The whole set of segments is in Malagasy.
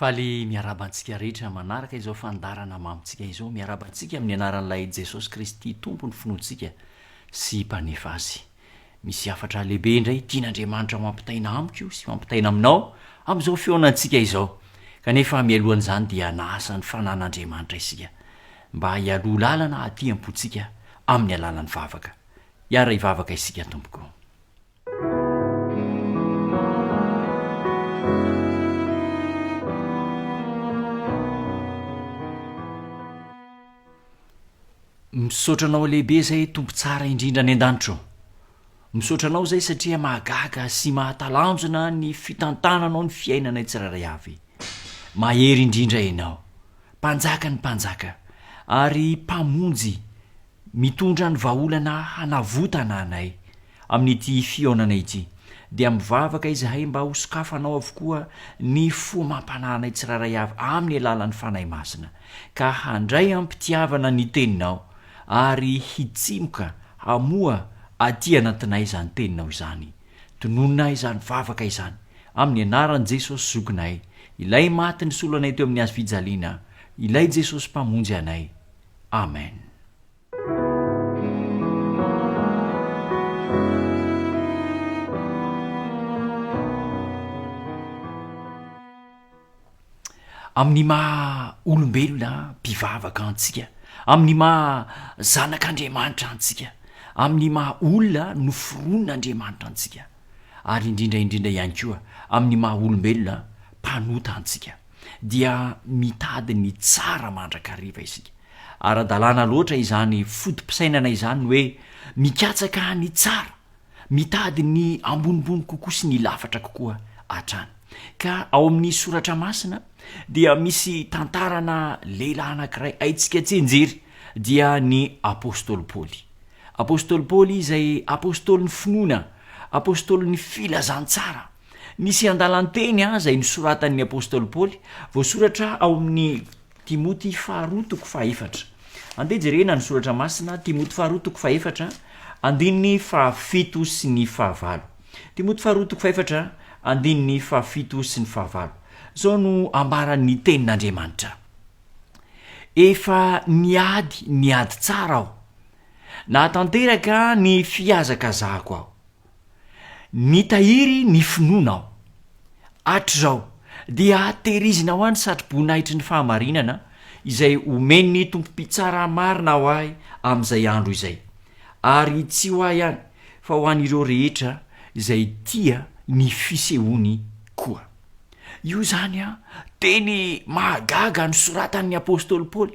Faly miarahaba antsika rehetra manaraka izao fandarana mamintsika izao. Miarahaba antsika amin'ny anaran'ilay Jesosy Kristy Tompon'ny finoantsika sy Mpanefa azy. Misy hafatra lehibe indray tian'Andriamanitra ho ampitaina amiko sy ampitaina aminao amin'izao fihaonantsika izao. Kanefa mialohan'izany dia nahasa ny fanan'Andriamanitra isika mba hialoha lalana aty am-pontsika amin'ny alalan'ny vavaka. Hiara-hivavaka isika tompoko. Misaotra anao lehibe zay Tompo tsara indrindra any an-danitra ô. Misaotra anao zay satria mahagaga sy mahatalanjona ny fitantananao ny fiainanay tsirairay avy. Mahery indrindra ianao. Mpanjaka ny mpanjaka ary mpamonjy mitondra ny vahaolana hanavotana anay. Amin'ity fihaonana ity, dia mivavaka izahay mba ho sokafanao avokoa ny fo mampanahy anay tsirairay avy amin'ny alalan'ny Fanahy Masina, ka handray am-pitiavana ny Teninao, ary hitsimoka hamoha aty anatinay izany Teninao izany. Tononina ahy izany vavaka izany, amin'ny anaran'i Jesosy Zokinay, Ilay maty nisolo anay teo amin'ny hazofijaliana, Ilay Jesosy Mpamonjy anay. Amen. amin'ny maha olombelona mpivavaka antsika amin'ny maha zanak'andriamanitra antsika amin'ny maha olona noforon' andriamanitra antsika ary indrindra indrindra ihany koa amin'ny maha olombelona mpanota antsika dia mitady ny tsara mandrakariva isika Ara-dalàna loatra izany foto-pisainana izany ny hoe mikatsaka ny tsara, mitady ny ambonimbony kokoa sy ny lafatra kokoa hatrany. Ka ao amin'ny Soratra Masina dia misy tantarana lehilahy anankiray haintsika tsinjery, dia ny Apostoly Paoly. Apostoly Paoly izay Apostolin'ny finoana, Apostolin'ny filazantsara. Nisy andalan-teny aza inosoratan'ny Apostoly Paoly, voasoratra ao amin'ny Timoty faharoa toko fahefatra. Andeha jerena ny soratra masina, Timoty faharoa toko fahefatra, andininy fahafito sy ny fahavalo. Timoty faharoa toko fahefatra, andininy fahafito sy ny fahavalo. Zao no ambaran'ny tenin'Andriamanitra. Efa niady ny ady tsara aho. Nahatanteraka ny fihazakazahako aho. Nitahiry ny finoana aho. Hatrizao, dia tehirizina ho ahy ny satroboninahitry ny fahamarinana izay omen'ny Tompo Mpitsara marina ho ahy amin'izay andro izay, ary tsy ho ahy ihany fa ho an'ireo rehetra izay tia ny fisehoany koa. Io izany teny mahagaga nosoratan'ny apostoly Paoly.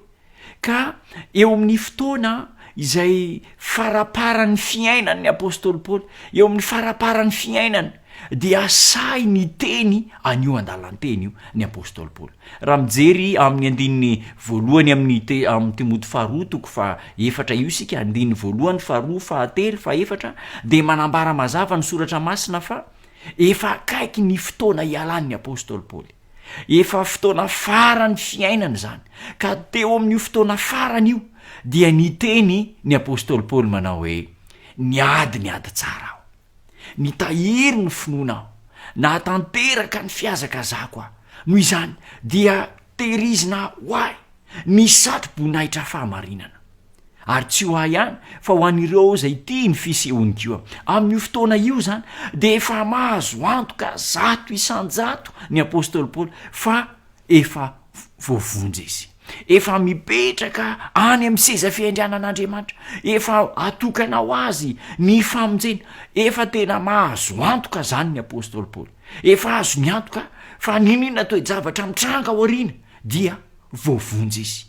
Ka eo amin'ny fotoana izay faraparan'ny fiainan'ny apostoly Paoly, eo amin'ny faraparan'ny fiainany dia sahy niteny an'io andalan-teny io ny apostoly Paoly. Raha mijery amin'ny andininy voalohany amin'ny te- amin'ny Timoty faharoa toko fahaefatra io isika, andininy voalohany, faharoa, fahatelo, fahefatra, dia manambara mazava ny soratra masina fa efa akaiky ny fotoana hialan'ny apostoly Paoly. Efa fotoana farany fiainana izany, ka teo amin'io fotoana farany io dia niteny ny apostoly Paoly manao hoe, Niady ny ady tsara aho. Nitahiry ny finoana aho. Nahatanteraka ny fihazakazahako aho. Noho izany dia tehirizina ho ahy ny satroboninahitra fahamarinana. Ary tsy ho ahy ihany fa ho an'ireo izay tia ny fisehon'i Jehovah. Amin'io fotoana io izany, dia efa mahazo antoka zato isan-jato ny apostoly Paoly fa efa voavonjy izy. Efa mipetraka any amin'ny seza fiandrianan'Andriamanitra. Efa atokana ho azy ny famonjena. Efa tena mahazo antoka izany ny apostoly Paoly. Efa azony antoka fa n'inon'inona toe-javatra mitranga ao aoriana dia voavonjy izy.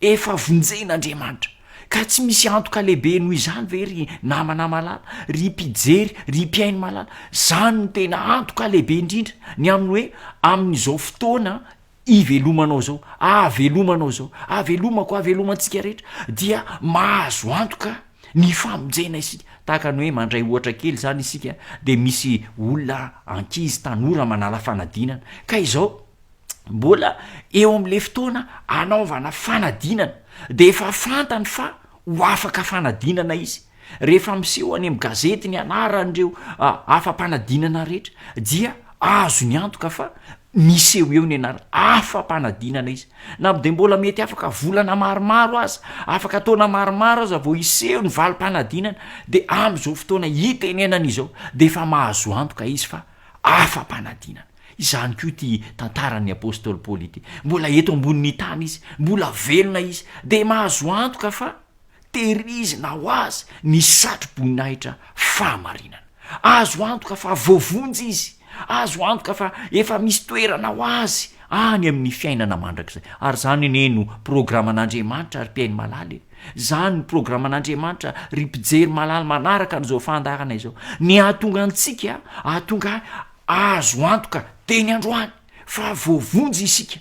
Efa vonjen'Andriamanitra. Ka tsy misy antoka lehibe noho izany ve ry namana malala, ry mpijery, ry mpihaino malala? Izany no tena antoka lehibe indrindra, ny amin'ny hoe amin'izao fotoana ivelomanao izao, ahavelomanao izao, ahavelomako, ahavelomantsika rehetra, dia mahazo antoka ny famonjena isika. Tahaka ny hoe mandray ohatra kely izany isika dia misy olona ankizy tanora manala fanadinana, ka izao, mbola eo amle fotoana anaovana fanadinana de efa fantany fa ho afaka fanadinana izy rehefa miseho any am gazety ny anaran'reo afa-panadinana rehetra dia azo ny antoka fa miseho eo ny anarany afa-panadinana izy na de mbola mety afaka volana maromaro aza afaka taona maromaro aza vao iseho ny valim-panadinana de am'zao fotoana itenenana izao de efa mahazo antoka izy fa afa-panadinana Izany koa ity tantaran'ny apostoly Paoly ity. Mbola eto ambonin'ny tany izy, mbola velona izy, dia mahazo antoka fa tehirizina ho azy ny satroboninahitra fahamarinana. Azo antoka fa voavonjy izy, azo antoka fa efa misy toerana ho azy any amin'ny fiainana mandrakizay. Ary izany anie no programan'Andriamanitra, ry mpihaino malala e! Izany no programan'Andriamanitra, ry mpijery malala manaraka an'izao fandaharana izao. Ny hahatonga antsika hahatonga Azo antoka teny androany fa voavonjy isika.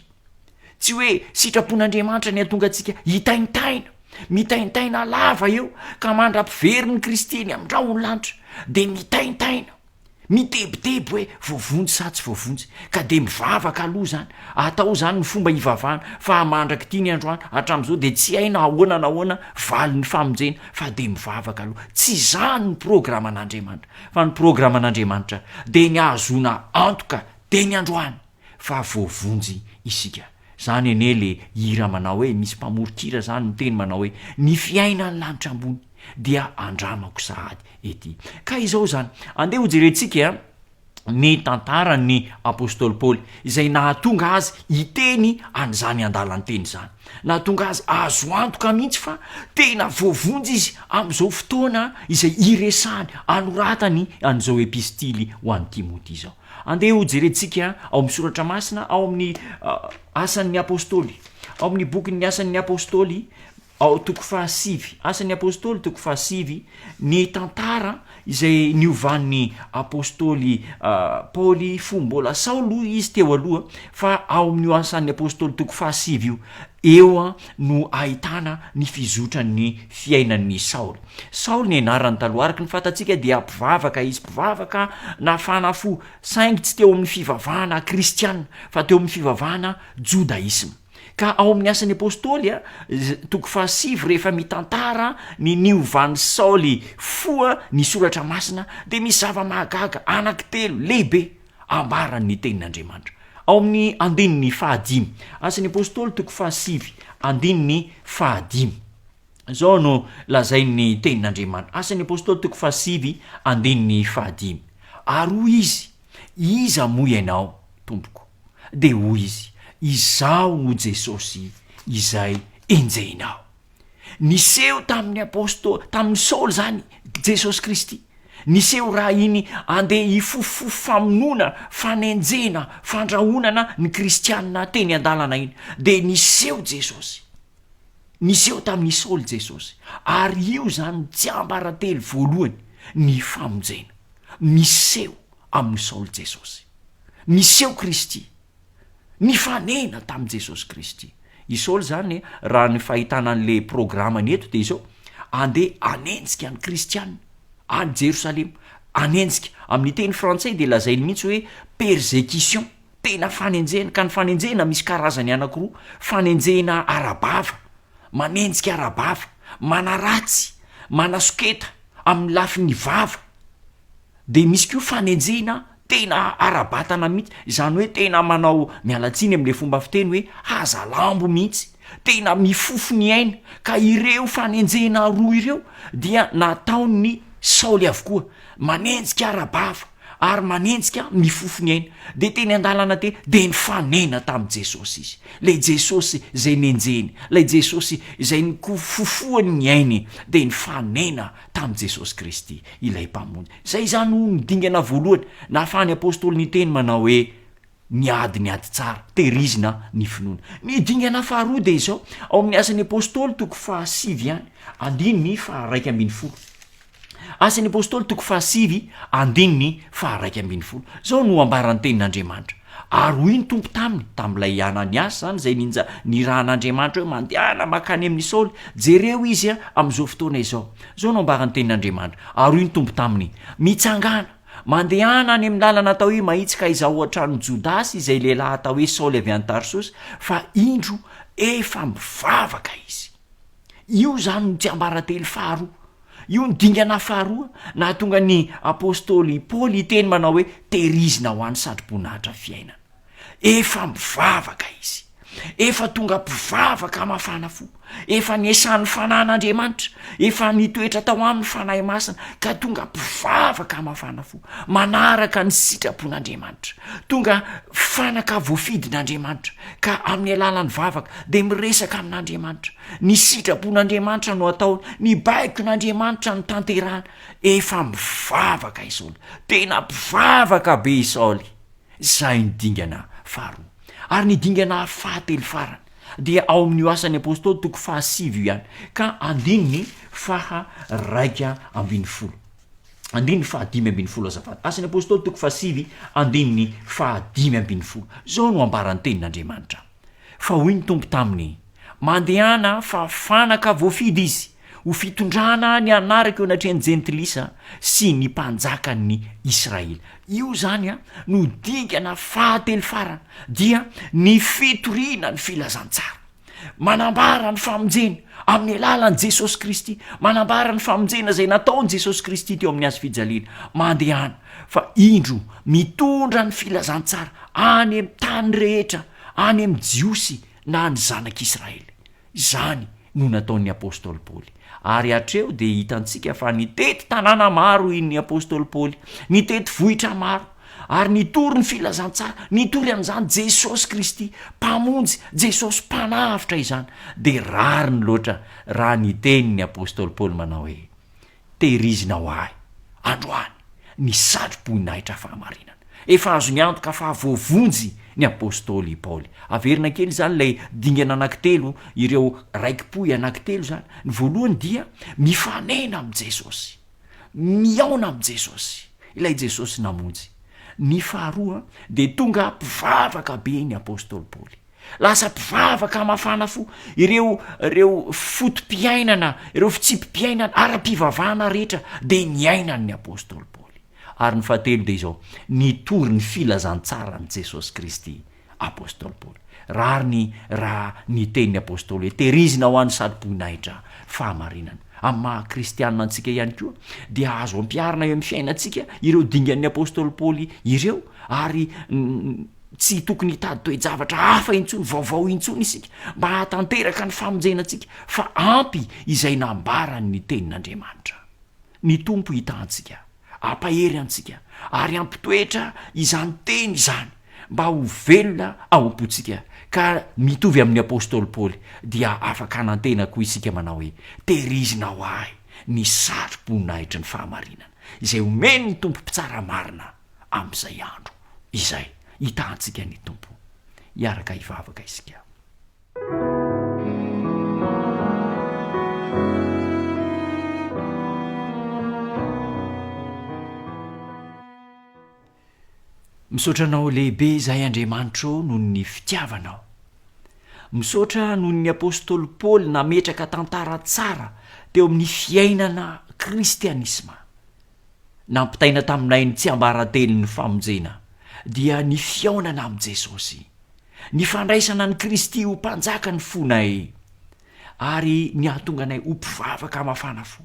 Tsy hoe sitrapon'Andriamanitra ny hahatonga antsika hitaintaina, mitaintaina lava eo ka mandra-pivery ny Kristiany amin'ny rahon'ny lanitra dia mitaintaina, mitebiteby hoe voavonjy sa tsy voavonjy, ka dia mivavaka aloha izany. Atao izany ny fomba hivavahana fa mandrak'ity ny androany, hatramin'izao dia tsy hay na ahoana na ahoana valin'ny famonjena fa dia mivavaka aloha. Tsy izany ny programan'Andriamanitra. Fa ny programan'Andriamanitra dia ny ahazoana antoka dia ny androany fa voavonjy isika. Zany anie le hira manao hoe misy mpamoron-kira zany miteny manao hoe ny fiainan'ny lanitra ambony dia andramako sahady ety. Ka izao izany, andeha hojerentsika ny tantaran'ny apostoly Paoly izay nahatonga azy hiteny an'izany andalan-teny izany. Nahatonga azy azo antoka mihitsy fa tena voavonjy izy amin'izao fotoana izay iresahany, anoratany an'izao epistily ho an'i Timoty izao. Andeha hojerentsika ao amin'ny soratra masina ao amin'ny Asan'ny Apostoly, ao amin'ny bokin'ny Asan'ny Apostoly, ao toko fahasivy, Asan'ny Apostoly toko fahasivy, ny tantara izay niovan'ny apostoly Paoly fo mbola Saoly hoy izy teo aloha fa ao amin'io asan'ny apostoly toko fahasivy io eo no ahitana ny fizotran'ny fiainan'ny Saoly. Saoly ny anarany taloha araka ny fantatsika dia mpivavaka izy, mpivavaka nafana fo saingy tsy teo amin'ny fivavahana kristiana fa teo amin'ny fivavahana jodaisma. Ka ao amin'ny Asan'ny Apôstôly, toko fahasivy, rehefa mitantara ny niovan'i Saoly fo ny Soratra Masina, dia misy zava-mahagaga anankitelo lehibe ambaran'ny Tenin'Andriamanitra. Ao amin'ny andininy fahadimy, Asan'ny Apôstôly, toko fahasivy, andininy fahadimy, izao no lazain'ny Tenin'Andriamanitra, Asan'ny Apôstôly, toko fahasivy, andininy fahadimy, Ary hoy izy, Iza moa ianao, Tompoko? Dia hoy izy, Izaho no Jesosy izay enjehinao. Niseho tamin'ny apôstô, tamin'i Saoly izany Jesosy Kristy. Niseho raha iny andeha hifofofo famonoana, fanenjehina, fandrahonana ny kristianina teny an-dalana iny. Dia niseho Jesosy. Niseho tamin'i Saoly Jesosy. Ary io izany no tsiambaratelo voalohany, ny famonjena. Miseho amin'i Saoly Jesosy. Niseho Kristy. Nifanena tamin'i Jesosy Kristy. I Saoly izany, raha ny fahitana an'ilay programany eto dia izao, andeha hanenjika ny kristiana any Jerosalema. Hanenjika. Amin'ny teny frantsay dia lazainy mihitsy hoe persecution. Tena fanenjehana. Ka ny fanenjehana misy karazany anankiroa. Fanenjehina ara-bava. Manenjika ara-bava. Manaratsy. Manasoketa. Amin'ny lafiny vava. Dia misy koa fanenjehina tena ara-batana mihitsy, izany hoe tena manao miala tsiny amin'ilay fomba fiteny hoe haza lambo mihitsy, tena mifofo ny aina, ka ireo fanenjehina roa ireo dia nataon'i Saoly avokoa, manenjika ara-bava ary manenjika mifofo ny aina. Dia teny an-dalana teny dia nifanena tamin'i Jesosy izy, ilay Jesosy izay nenjehiny, ilay Jesosy izay nofofohany ny ainy dia nifanena tamin'i Jesosy Kristy, ilay Mpamonjy. Izay izany no no dingana voalohany nahafahan'ny Apostoly niteny manao hoe, Niady ny ady tsara, tehirizina ny finoana. Ny dingana faharoa dia izao, ao amin'ny Asan'ny Apostoly toko fahasivy ihany, andininy faharaika ambin'ny folo. Asan'ny Apostoly toko fahasivy, andininy faharaika ambin'ny folo. Izao no ambaran'ny Tenin'Andriamanitra. Ary hoy ny Tompo taminy, tamin'ilay Ananiasy izany izay ninja nirahan'Andriamanitra hoe, Mandehana mankany amin'i Saoly, jereo izy amin'izao fotoana izao. Izao no ambaran'ny tenin'Andriamanitra, Ary hoy ny Tompo taminy, Mitsangàna, mandehana any amin'ny làlana atao hoe Mahitsy ka izaho ao an-tranon'i Jodasy izay lehilahy atao hoe Saoly avy any Tarsosy, fa indro efa mivavaka izy. Io izany no tsiambaratelo faharoa. Io no dingana faharoa nahatonga ny apostoly i Paoly hiteny manao hoe, Tehirizina ho any satroboninahitra fiainana. Efa mivavaka izy. Efa tonga mpivavaka mafana fo. Efa niasany ny Fanahin' Andriamanitra. Efa nitoetra tao aminy ny Fanahy Masina, ka tonga mpivavaka mafana fo, manaraka ny sitrapon' Andriamanitra. Tonga fanaka voafidin' Andriamanitra. ka amin'ny alalan'ny vavaka dia miresaka amin'Andriamanitra. Ny sitrapon'Andriamanitra no ataony, ny baikon'Andriamanitra no tanterahany. Efa mivavaka i Saoly, tena mpivavaka be i Saoly. Izay ny dingana faharoa. Ary ny dingana fahatelo farany dia ao amin'io Asan'ny Apostoly toko fahasivy io ihany, ka andininy faha raika ambin'ny folo. Andininy faha dimy ambin'ny folo azafady. Asan'ny Apostoly toko faha sivy andininy faha dimy ambin'ny folo. Zao no ambaran'ny tenin'Andriamanitra. Fa hoy ny Tompo taminy, Mandehana fa fanaka voafidy izy, ho fitondrana ny anarako eo anatrehan'ny jentilisa sy ny mpanjakan'ny Israely. Io zany no dingana faha telo farany, dia ny fitoriana ny filazantsara. manambara ny famonjena amin'ny alalan'i jesosy kristy manambara ny famonjena zay nataony jesosy kristy teo amin'ny azo fijaliana mandehana fa indro mitondra ny filazantsara any ami'ny tany rehetra any ami'ny jiosy na ny zanak'israely izany no nataon'ny apôstôly paoly Ary hatreo dia hitantsika fa nitety tanàna maro i ny apostoly Paoly, nitety vohitra maro, ary nitory ny filazantsara, nitory an'izany Jesosy Kristy Mpamonjy, Jesosy Mpanavotra izany. Dia rariny loatra raha niteny ny apostoly Paoly manao hoe, Tehirizina ho ahy, androany, ny satro-boninahitra fahamarinana. Efa azony antoka fa voavonjy ny apostoly i Paoly. Averina kely izany ilay dingana anankitelo, ireo raiki-pohy anankitelo izany. Ny voalohany dia, Mifanena amin'i Jesosy. Mihaona amin'i Jesosy, ilay Jesosy namonjy. Ny faharoa, dia tonga mpivavaka be ny apostoly Paoly. Lasa mpivavaka mafana fo. Ireo ireo foto-piainana, ireo fitsipi-piainana ara-pivavahana rehetra dia niainan'ny apostoly Paoly. Ary ny fahatelo dia izao, nitory ny filazantsaran'i Jesosy Kristy, apostoly Paoly. Rariny raha niteny ny apostoly hoe, Tehirizina ho an'ny sarom-boninahitra, fahamarinana. Amin'ny maha kristiana antsika ihany koa, dia azo ampiharina eo amin'ny fiainantsika ireo dingan'ny apostoly Paoly ireo, ary tsy tokony hitady toe-javatra hafa intsony, vaovao intsony isika, mba hahatanteraka ny famonjena antsika, fa ampy izay nambaran'ny Tenin'Andriamanitra. Ny Tompo hita antsika, hampahery antsika, ary hampitoetra izany teny izany mba ho velona ao am-pontsika, ka mitovy amin'ny apostoly Paoly dia afaka hanantena koa isika manao hoe, Tehirizina ho ahy ny satroboninahitry ny fahamarinana, izay omen'ny Tompo mpitsara marina amin'izay andro izay. Hita antsika ny Tompo. Hiaraka hivavaka isika. misaotra anao lehibe izahay andriamanitra o noho ny fitiavanao misaotra noho ny apôstôly paoly nametraka tantara tsara teo amin'ny fiainana kristianisma nampitaina taminay ny tsy ambara-teny ny famonjena dia ny fiaonana amin'i jesosy Ny fandraisana an'i Kristy ho Mpanjaka ny fonay ary ny hahatonga anay ho mpivavaka mafana fo,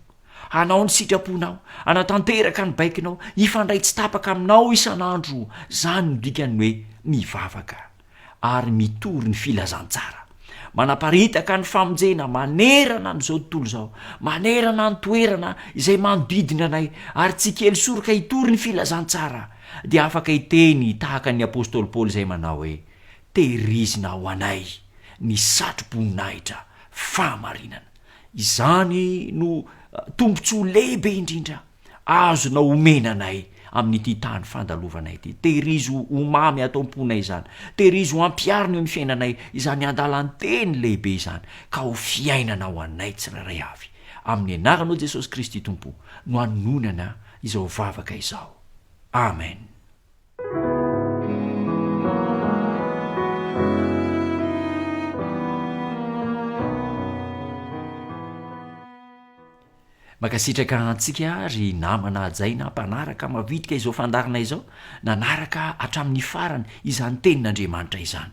hanao ny sitraponao, hanatanteraka ny baikonao, hifandray tsy tapaka aminao isan'andro, izany no dikan'ny hoe mivavaka ary mitory ny filazantsara, manaparitaka ny famonjena manerana an'izao tontolo izao, manerana ny toerana izay manodidina anay ary tsy kely soroka hitory ny filazantsara dia afaka hiteny tahaka ny apostoly Paoly izay manao hoe, Tehirizina ho anay ny satroboninahitra fahamarinana. Izany no tombontsoa lehibe indrindra azonao omena anay amin'ity tany fandalovana ity. Tehirizo ho mamy ato am-ponay izany. Tehirizo hampiharina eo amin'ny fiainanay izany andalan-teny lehibe izany, ka ho fiainana ho anay tsirairay avy. Amin'ny anaranao Jesosy Kristy Tompo no anononana izao vavaka izao. Amen. mankasitraka antsika ry namana ajaina mpanaraka mavitika izao fandarina izao nanaraka hatramin'ny farany izany tenin'andriamanitra izany